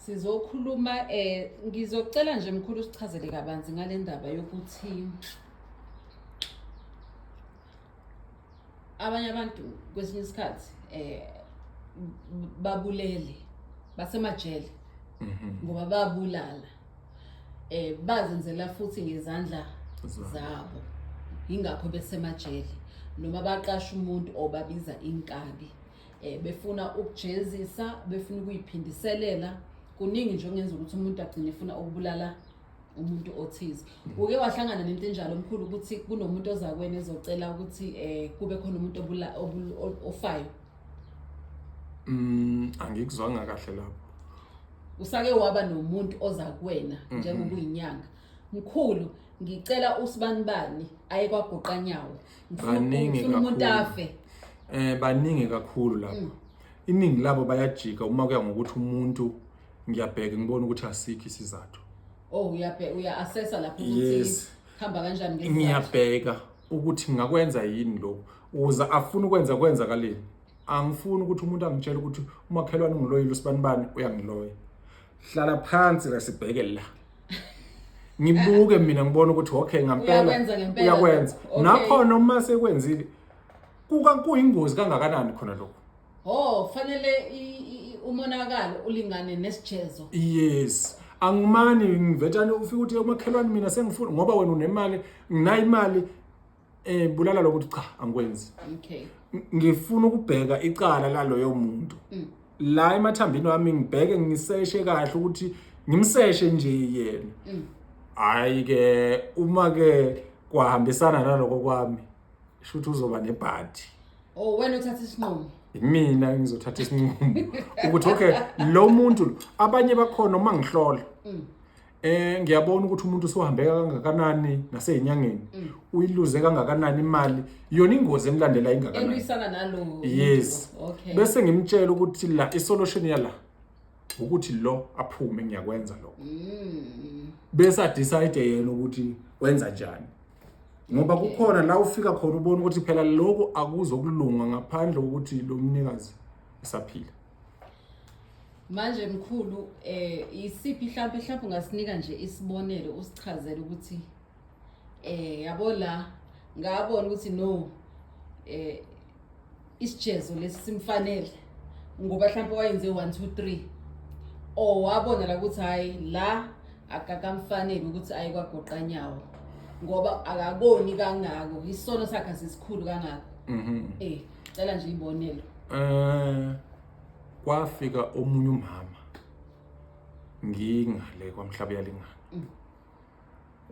sizokhuluma eh ngizocela nje mkhulu sichazele kabanzi ngale ndaba yokuthi abanye abantu kwesinye isikhathi eh babulele basemajele mhm. ngoba babulala eh bazenzela futhi ngezandla zabo ingakho besemajele noma baqasha umuntu obabiza inkabi eh, befuna ukujezisa befuna ukuyiphindiselela kuningi nje okungenza ukuthi umuntu agcine efuna ukubulala umuntu othize uke wahlangana nento enjalo omkhulu ukuthi kunomuntu ozakwena ezocela ukuthi eh kube khona umuntu obula ofayo mm angikuzwanga kahle lapho usake waba nomuntu ozakwena mhm. njengokuyinyanga mkhulu ngicela usibanibani aye kwagoqanyawo baningi kakhulu eh baningi kakhulu lapho mm. iningi labo bayajika uma kuya ngokuthi umuntu ngiyabheka ngibona ukuthi asikho isizathu oh uyabheka uya assessa lapho ukuthi hamba kanjani ngesikhathi ngiyabheka ukuthi ngakwenza yini lokho uza afuna ukwenza kwenzakaleni angifuni ukuthi umuntu angitshele ukuthi umakhelwane ungiloyile usibanibani uyangiloya hlala phansi ke sibheke la ngibuke mina ngibona ukuthi okay ngampela Uyakwenza ngempela. uyakwenza Okay. nakhona uma sekwenzile kuka kuyingozi kangakanani khona lokho ho kufanele i- i- i- umonakalo ulingane nesijezo yes angimani ngivetshane ufike uthi umakhelwane mina sengifuna ngoba wena unemali nginayo imali Eh bulala lokuthi cha angikwenzi. Okay. Ngifuna ukubheka icala laloyo muntu. Mm. La emathambini wami ngibheke ngiseshe kahle ukuthi ngimseshe nje yena. Mm. Hayi ke uma ke kwahambisana naloko kwami shuthi uzoba nebhadi. Oh wena uthatha isinqumo. Mina ngizothatha isinqumo ukuthi okay lo muntu abanye bakhona uma ngihlola. Mm. Eh ngiyabona ukuthi umuntu usuhambeka kangakanani nasezinyangeni. Mm. Uyiluze kangakanani imali. Yona ingozi emlandela ingakanani. Eluyisana nalo. Yes. Okay. Bese ngimtshela ukuthi la isolution yala ukuthi lo aphume ngiyakwenza lo. Mm. Bese a decide yena ukuthi wenza njani. Ngoba kukhona la ufika khona ubona ukuthi phela lokho akuzokulunga ngaphandle kokuthi lo mnikazi esaphila. manje mkhulu eh isiphi mhlawumbe mhlawumbe ungasinika nje isibonelo usichazele ukuthi eh yabo la ngabona ukuthi no eh isijezo lesi simfanele ngoba mhlawumbe wayenze 1 2 3 or wabona la ukuthi hayi la akakamfanele ukuthi aye kwagoqa nyawo ngoba akakoni kangako isono sakhe sisikhulu kangako mhm eh Cela nje ibonelo. Eh kwafika omunye umama ngingale kwamhlaba yalingana. Mm.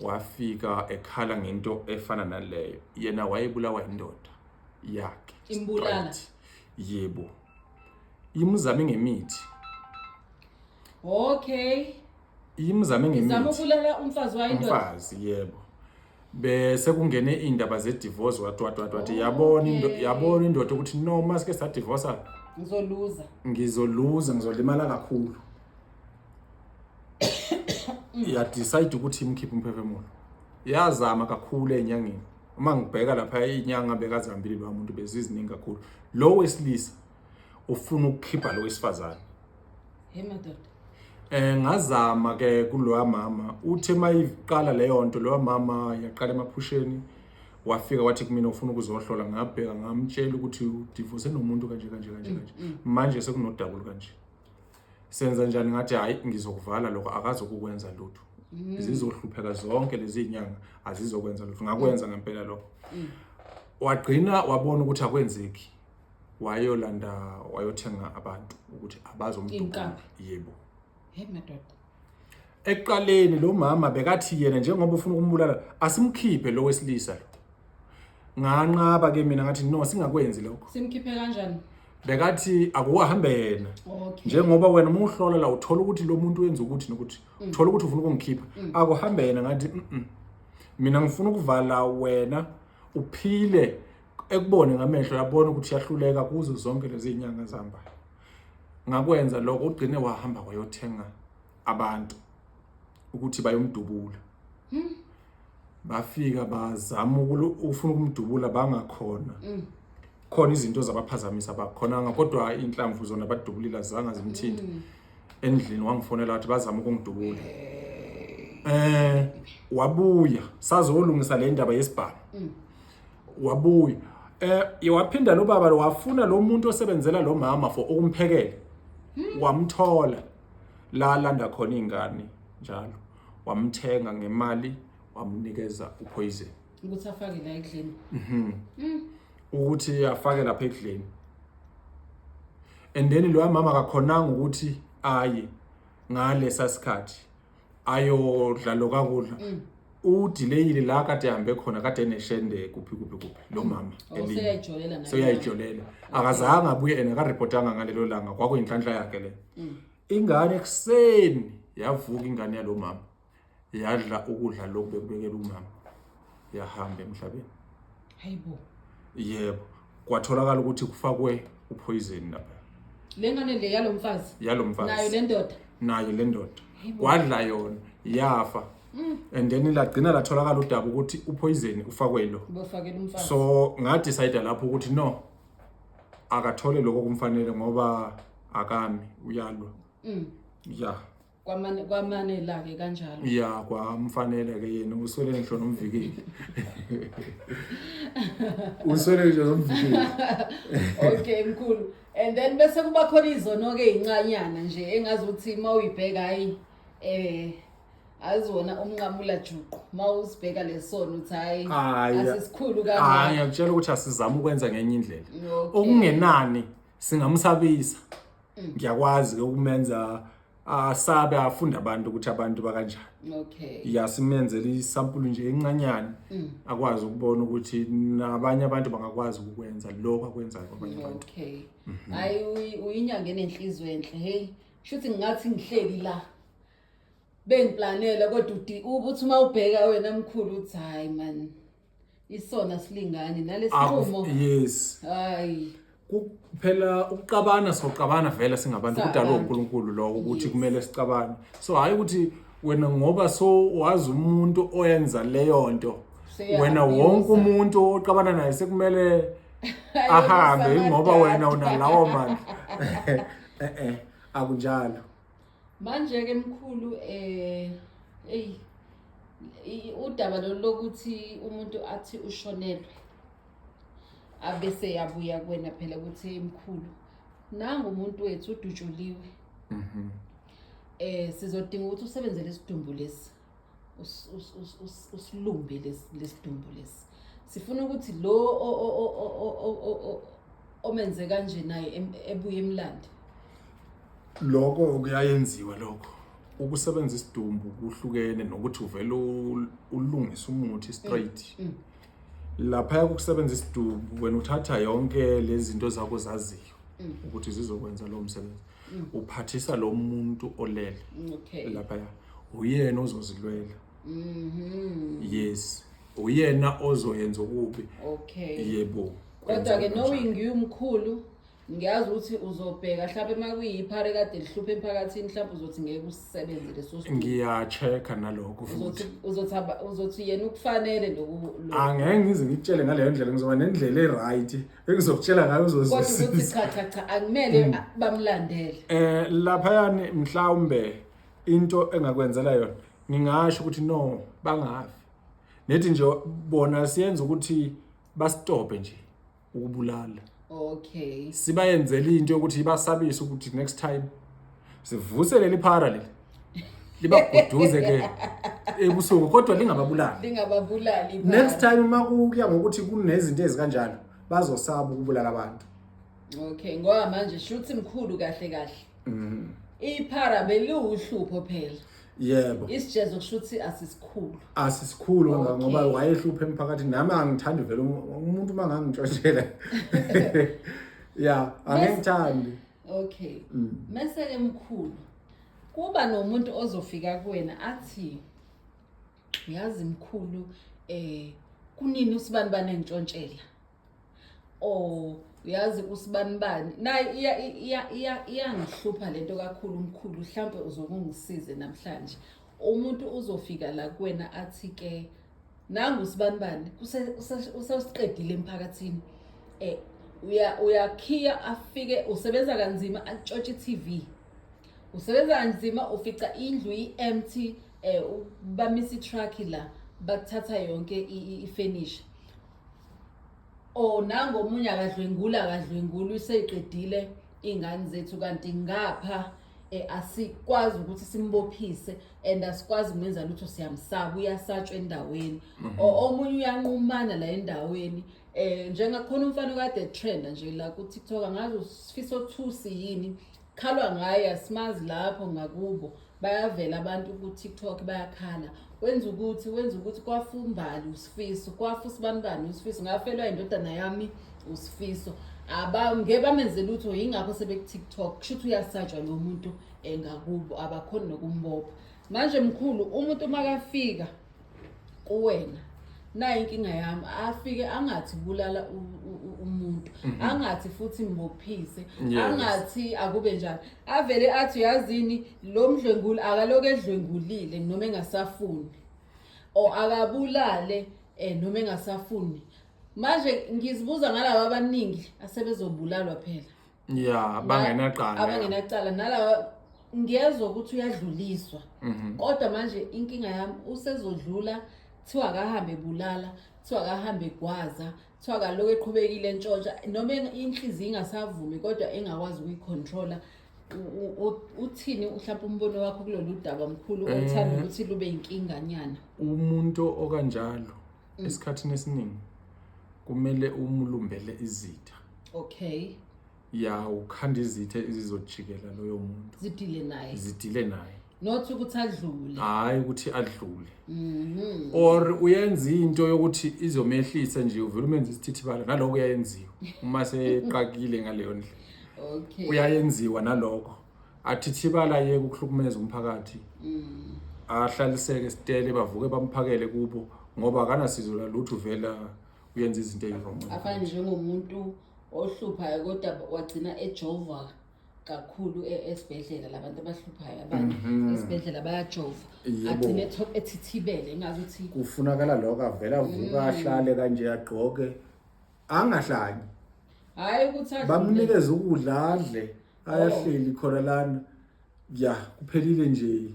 Wafika ekhala ngento efana naleyo. Yena wayebulawa indoda yakhe. Imbulala. Yebo. Imuzame ngemithi. Okay. imzame ngemithi zama ukulala umfazi wayo indoda umfazi yebo bese kungene indaba ze divorce wathi wathi wathi wathi yabona into Okay. yabona indoda ukuthi no masike sa divorce ngizoluza ngizoluza ngizolimala kakhulu ya decide ukuthi imkhiphe umphefumulo yazama kakhulu enyangeni uma ngibheka lapha inyanga bekazihambile lo muntu beziziningi kakhulu lo wesilisa ufuna ukukhipha lo wesifazane Hey madoda. Eh ngazama ke kulowa mama uthe mayiqala leyo nto lowa mama yaqala emaphusheni wafika wathi kumina ufuna ukuzohlola ngabheka ngamtshela ukuthi udivose nomuntu kanje kanje kanje kanje mm, mm. manje sekunodabulu kanje senza njani ngathi hayi ngizokuvala lokho akazi ukukwenza lutho mm. zizohlupheka zonke lezi nyanga azizokwenza lutho ngakwenza ngempela lokho wagcina wabona ukuthi akwenzeki wayolanda wayothenga abantu ukuthi abazomdubula yebo hey madoda ekuqaleni lo mama bekathi yena njengoba ufuna ukumbulala asimkhiphe lo wesilisa lo nganqaba ke mina ngathi no singakwenzi lokho simkhiphe kanjani bekathi akuhambe yena okay. njengoba wena uma uhlola la uthola ukuthi lo muntu wenza ukuthi nokuthi mm. uthola ukuthi ufuna ukungikhipha mm. akuhambe yena ngathi mm -mm. mina ngifuna ukuvala wena uphile ekubone ngamehlo yabona ukuthi yahluleka kuzo zonke lezi zinyanga zambayo ngakwenza lokho ugcine wahamba wayothenga abantu ukuthi bayomdubula hmm. bafika bazama ukufuna ukumdubula bangakhona hmm. khona izinto zabaphazamisa bakhonanga kodwa inhlamvu zona badubulile azange zimthinte hmm. endlini wangifonela wathi bazama ukungidubula eh wabuya sazolungisa le ndaba yesibhamu mm. wabuya eh waphinda lo baba wafuna lo muntu osebenzela lo mama for ukumphekela hmm. wamthola la landa khona ingane njalo wamthenga ngemali wamnikeza upoison ukuthi afake la ekudleni mhm. mm. ukuthi afake lapha ekudleni and then loya mama akakhonanga ukuthi aye ngalesa sikhathi ayodla lo kakudla mm. udileyile la kade hambe khona kade eneshende kuphi kuphi kuphi lo mm. mama oh, seyayijolela akazange abuye ena akaripotanga ngalelo langa kwakuyinhlanhla yakhe le ingane ekuseni yavuka ingane yalo mama yadla ukudla lokhu bekubekela umama yahamba emhlabeni hayibo yebo kwatholakala ukuthi kufakwe uphoyizin lapha le ngane le yalo mfazi yalo mfazi nayo le ndoda nayo le ndoda kwadla yona yafa mm. and then lagcina latholakala udaba ukuthi uphoyizeni ufakwe lo so ngadicide lapho ukuthi no akathole lokho kumfanele ngoba akami uyalwa mm. ya kwamane kwamane la ke kanjalo ya kwamfanele ke yena uswele ngisho nomvikeli uswele ngisho nomvikeli okay mkhulu and then bese kuba khona izono ke incanyana nje engazi ukuthi uma uyibheka hayi eh azona umnqamula juqu mawusibheka lesono uthi hayi asisikhulu kangaka hayi ngiyakutshela ukuthi asizama ukwenza ngenye indlela okungenani singamsabisa ngiyakwazi ke ukumenza asabe afunde abantu ukuthi abantu bakanjani okay ya simenzele isampulu nje encanyana mm. akwazi ukubona ukuthi nabanye abantu bangakwazi ukwenza lokho akwenzayo kwabanye abantu okay mhm. hayi mm -hmm. uyinyanga enenhliziyo enhle hey shuthi ngingathi ngihleli la bengiplanele kodwa uthi uma ubheka wena mkhulu uthi hayi man isona silingani nalesinqumo Akuf- yes hayi Ku- phela ukuqabana soqabana vele singabantu Sa- kudalwa abantu. uNkulunkulu lokho ukuthi Yes. kumele sicabane so hayi ukuthi wena ngoba so wazi umuntu oyenza leyo nto Seya- wena abusa. wonke umuntu oqabana naye sekumele ahambe Ayobusa ingoba wena amadada. unalawo mandla eh eh akunjalo Manje ke mkhulu eh eyi udaba lolu lokuthi umuntu athi ushonelwe abese yabuya kuwena phela ukuthi emkhulu nangu umuntu wethu udutshuliwe mhm. eh sizodinga ukuthi usebenzele isidumbu lesi usilumbe lesidumbu lesi sifuna ukuthi lo omenze kanje naye ebuye emlande lokho kuyayenziwa lokho ukusebenzisa isidumbu kuhlukene nokuthi uvele ulungise umuthi straight mm, mm. laphaya kokusebenza isidubu wena uthatha yonke lezi zinto zakho zaziyo mm. ukuthi zizokwenza lowo msebenzi mm. uphathisa lo muntu olele mm, okay. laphaya uyena ozozilwela mm -hmm. yes uyena ozoyenza okubi okay. yebo kodwa-ke knowing you mkhulu ngiyazi ukuthi uzobheka mhlawumbe uma kuyiphare kade lihluphe emphakathini mhlawumbe uzothi ngeke usisebenze leso sithuthi ngiya-check-a nalokho futhi uzothi uzothi aba- uzothi yena ukufanele loku lo- angeke ngize ngikutshele ngaleyo ndlela ngizoba nendlela e-right engizokutshela ngayo kodwa ukuthi uzozwisisa cha cha cha akumele a- bamlandele eh laphayani mhlawumbe into engakwenzela yona ngingasho ukuthi no bangafi nethi nje bona siyenza ukuthi basitope nje ukubulala okay sibayenzela into yokuthi ibasabise ukuthi next time sivuse leli phara leli libaguduze ke ebusuku kodwa lingababulali lingababulali next time uma kuya ngokuthi kunezinto ezikanjalo bazosaba ukubulala abantu okay ngoba manje shuthi mkhulu kahle kahle mhm iphara beliwuhlupho phela yebo isijezo kusho ukuthi asisikhulu asisikhulu Okay. ngoba wayehlupha emphakathini nami angithandi vele um- umuntu uma ngangitshoshela ya angengithandi okay Mm. mese ke mkhulu kuba nomuntu ozofika kuwena athi uyazi mkhulu eh kunini usibani banentshontshela oh uyazi usibanibani naye iyangihlupha le nto kakhulu umkhulu mhlawumpe uzokungisize namhlanje umuntu uzofika la kuwena athi-ke nangu usibanibani usewusiqedile emphakathini um uyakhiya afike usebenza kanzima atshontshe i-tv usebenza kanzima ufica indlu i-empty um bamisa i-truck la bathatha yonke ifenisha oh nango omunye akadlwengula akadlwengula useyiqedile iy'ngane zethu kanti ngapha um asikwazi ukuthi simbophise and asikwazi kumenza lutho siyamsaba uyasatshwa endaweni mhm. omunye uyanqumana la endaweni um njengakhona umfana okade trenda nje la ku-tiktok angazi usifisa othusi yini khalwa ngaye asimazi lapho ngakubo bayavela abantu ku-tiktok bayakhala wenza ukuthi wenza ukuthi kwafu umbali usifiso kwafu sibanibani usifiso ngafelwa indodana yami usifiso abangeke bamenze lutho yingakho sebekutiktok kusho ukuthi uyasatshwa lo muntu engakubo abakhoni nokumbopha manje mkhulu umuntu makafika kuwena nayi inkinga yami afike angathi bulala umuntu mhm. angathi futhi mbophise angathi akube njani avele athi uyazini lo mdlwenguli akaloku edlwengulile noma engasafuni o akabulale eh noma engasafuni manje ngizibuza ngalabo abaningi asebezobulalwa phela ya bangenacala abangenacala nalawa ngiyezwa ukuthi uyadluliswa Mhm. kodwa manje inkinga yami usezodlula kuthiwa akahambe ebulala kuthiwa akahambe egwaza kuthiwa akaloku eqhubekile entshontsha noma eng- inhliziyo ingasavumi kodwa engakwazi ukuyicontrola U- u- u- uthini mhlawumpe umbono wakho kulolu daba mkhulu Eh. othanda ukuthi lube yinkinganyana umuntu okanjalo Mm. esikhathini esiningi kumele umulumbele izitha okay ya ukhanda izitha ezizojikela loyo muntu zidile naye zidile naye not ukuthi adlule hhayi ukuthi adlule Mhm. or uyenza into yokuthi izomehlisa nje uvele umenza isithithibala naloko uyayenziwa uma seqakile ngaleyo ndlela okay uyayenziwa naloko athithibala yeke ukuhlukumeza umphakathi mm. ahlaliseke sitele bavuke bamphakele kubo ngoba akanasizo lalutho vela uyenza izinto eziwrong afana njengomuntu ohluphayo kodwa wagcina ejova kakhulu e-, esibhedlela labantu abahluphayo abantu mhm. esibhedlela bayajova agcine ethithibele engazi ukuthi kufunakala lokho avela avuka mm. ahlale kanje agqoke angahlanyi hayi ukuthi bamnikeze ukudla adle ayahleli khona lana ya kuphelile nje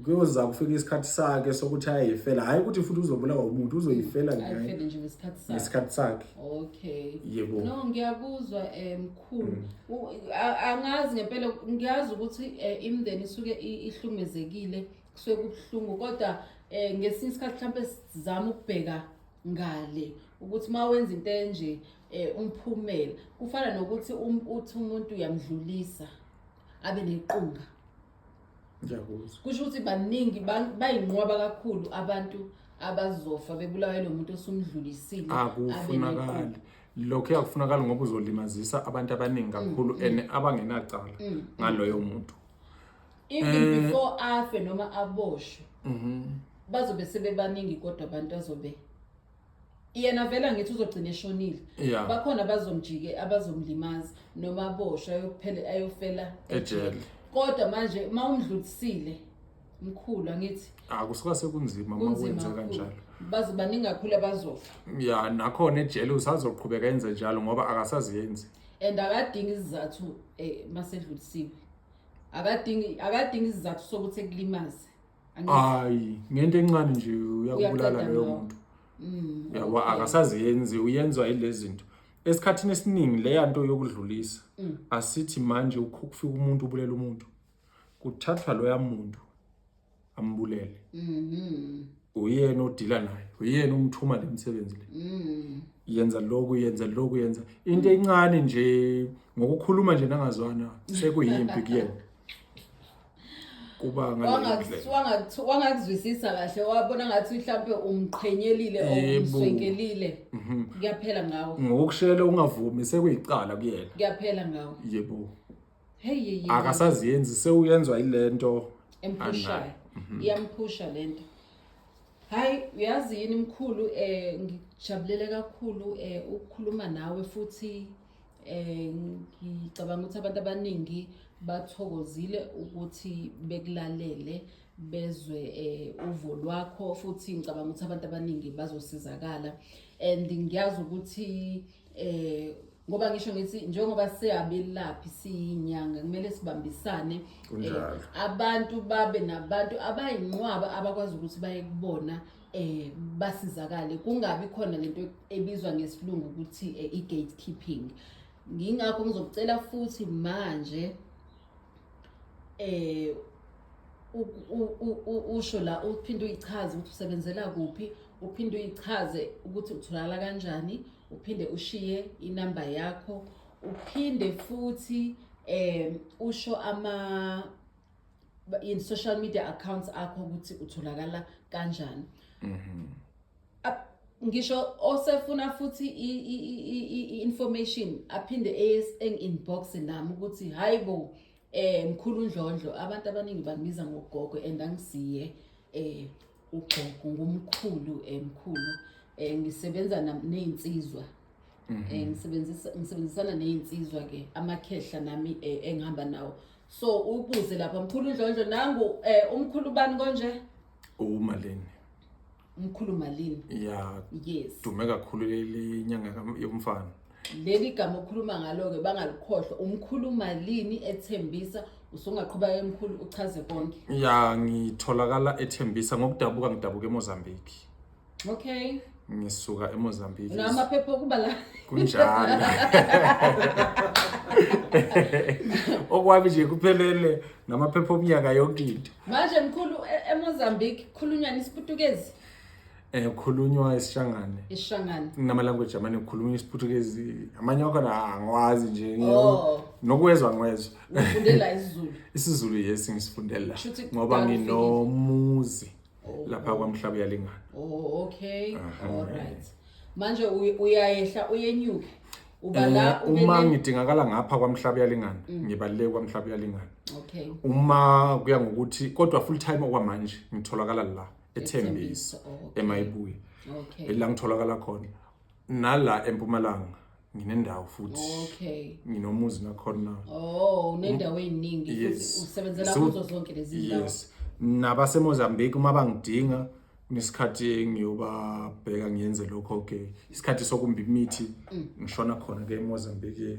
kuyoza kufika isikhathi sakhe sokuthi ayifela hayi ukuthi futhi uzobulawa umuntu uzoyifela ayifele nje ngesikhathi sakhe ngesikhathi sakhe okay yebo no ngiyakuzwa eh, mkhulu mm. U- a- angazi ngempela ngiyazi ukuthi eh, imndeni isuke i- ihlumezekile kusuke kubuhlungu kodwa eh, ngesinye isikhathi mhlawumbe sizama ukubheka ngale ukuthi uma wenza into enje eh umphumela kufana nokuthi um, uthi umuntu uyamdlulisa abe nequnga ngiyakuzwa kusho ukuthi baningi ba- bayinqwaba kakhulu abantu abazofa bebulawa yilo muntu osumdlulisile abe akufunakali nequnga. lokho kuyakufunakala ngoba uzolimazisa abantu abaningi kakhulu and abangenacala ngaloyo muntu even Eh. before afe noma aboshwe bazobe sebebaningi kodwa abantu azobe yena vele angithi uzogcina eshonile Yeah. bakhona abazomjike abazomlimaza noma aboshwe ayophele ayofela Ejele. kodwa manje uma umdlulisile mkhulu angithi Ah kusuka sekunzima uma kunzima wenze kakhulu. kanjalo. baze baningi kakhulu abazofa Ya nakhona ejele usazoqhubeka enze njalo ngoba akasaziyenzi. and akadingi izizathu um masedlulisiwe akadingi akadingi izizathu sokuthi kulimaze hayi ngento encane nje uyakubulala loyo muntu mm. yabo akasaziyenzi uyenzwa yilezi zinto esikhathini esiningi leya nto yokudlulisa mm. asithi manje ukufika umuntu ubulela umuntu kuthathwa loya muntu ambulele mm-hmm. uyena odila naye uyena umthuma le msebenzi le mm. yenza loku yenza loku yenza into encane nje ngokukhuluma nje nangazwana sekuyimpi kuyena kuba wangakuzwisisa kahle wabona ngathi mhlawumbe umqhenyelile Yebo. umswenkelile Mhm. kuyaphela ngawo ngokushela ungavumi sekuyicala kuyena kuyaphela ngawo yebo hey hey, hey. akasaziyenzi sewuyenzwa ilento emphushayo mhm. iyamphusha lento hayi uyazi yini mkhulu eh ngijabulela kakhulu eh ukukhuluma nawe futhi Eh, ngicabanga ukuthi abantu abaningi bathokozile ukuthi bekulalele bezwe um uvo lwakho futhi ngicabanga ukuthi abantu abaningi bazosizakala and ngiyazi ukuthi um ngoba ngisho ngithi njengoba siyabelaphi siyinyanga kumele sibambisane um abantu babe nabantu abayinqwaba abakwazi ukuthi baye kubona eh basizakale kungabi khona lento ebizwa ngesilungu ukuthi eh, i-gatekeeping ngingakho ngizokucela futhi manje eh usho la uphinde uyichaze ukuthi usebenzela kuphi uphinde uyichaze ukuthi utholakala kanjani uphinde ushiye inamba yakho uphinde futhi eh usho ama in social media accounts akho ukuthi utholakala kanjani mhm ngisho osefuna futhi i-information aphinde eyes-inbox nami ukuthi hayi bo eh mkhulu ndlondlo abantu abaningi bangibiza ngogogo and angisiye eh ugogo ngumkhulu eh, mkhulu eh, ngisebenza nam- ney'nsizwa Eh, ngisebenzisa- ngisebenzisana ney'nsizwa ke amakhehla nami eh, engihamba nawo so ubuze lapha mkhulu ndlondlo nangu eh, umkhulu bani konje umalini umkhulu malini ya yes dume kakhulu lenyanga yomfana leli gama okhuluma ngalo-ke bangalikhohlwa umkhuluma lini ethembisa usungaqhuba emkhulu uchaze konke ya ngitholakala ethembisa ngokudabuka ngidabuka emozambique okay ngisuka emozambique namaphepha okuba la kunjalo okwami nje kuphelele namaphepha omnyaka yonke into manje mkhulu e-, emozambique khulunywa nisiputukezi Eh kukhulunywa isishangane. Isishangane. Kunama language amane kukhulunywa isiPhuthukezi. Amanye akhona ah, angiwazi nje. Oh. Nokwezwa ngwezwa. Ngifundela isiZulu. IsiZulu yes ngisifundela ngoba nginomuzi oh. lapha kwaMhlaba yalingana. Oh okay. All right. Manje uyayehla uyenyuke. ubala eh, uma ngidingakala ngapha kwamhlaba yalingana mm. ngibaleke kwamhlaba yalingana okay uma kuya ngokuthi kodwa full time okwamanje ngitholakala la ethembiso emayibuye okay. la ngitholakala khona nala empumalanga nginendawo futhi okay nginomuzi nakhona oh unendawo eziningi yes. usebenzela so, kuzo zonke lezi ndawo yes nabasemozambique uma bangidinga nesikhathi ngiyobabheka ngiyenze lokho ke isikhathi sokumba imithi mm. ngishona khona ke emozambique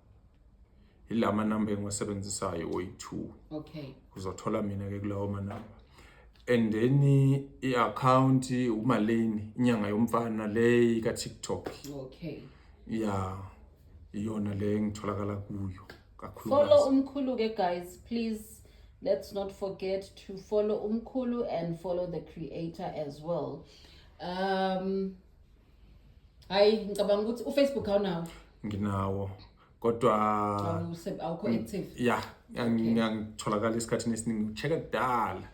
ila manamba engiwasebenzisayo oyi-two okay uzothola mina-ke kulawo manamba and then i-akhawunti umalini inyanga yomfana le ika-tiktok okay ya iyona le engitholakala kuyo kakhulu follow umkhulu-ke guys please let's not forget to follow umkhulu and follow the creator as well um hayi ngicabanga ukuthi ufacebook awunawo nginawo kodwa awukho active ya ngiyangitholakala esikhathini esiningi ucheck kudala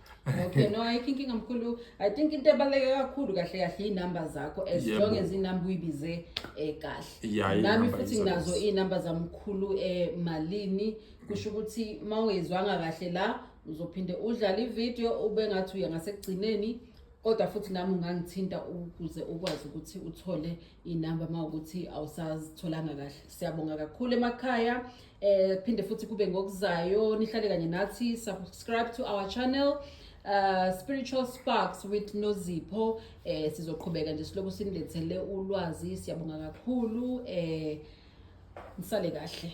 okay no ayikho inkinga mkhulu i think into ebaluleke kakhulu kahle kahle iy'number zakho as Yebo. long as inumber uyibize um kahle Ya, nami inumber futhi izokwazi. nginazo iy'number zamkhulu um malini kusho ukuthi uma ungezwanga kahle la uzophinde udlale ividiyo ube ngathi uya ngasekugcineni kodwa futhi nami ungangithinta ukuze ukwazi ukuthi uthole inamba uma ukuthi awusazitholanga kahle siyabonga kakhulu emakhaya eh phinde futhi kube ngokuzayo nihlale kanye nathi subscribe to our channel uh, spiritual sparks with nozipho eh sizoqhubeka nje siloku sinilethele ulwazi siyabonga kakhulu eh nisale kahle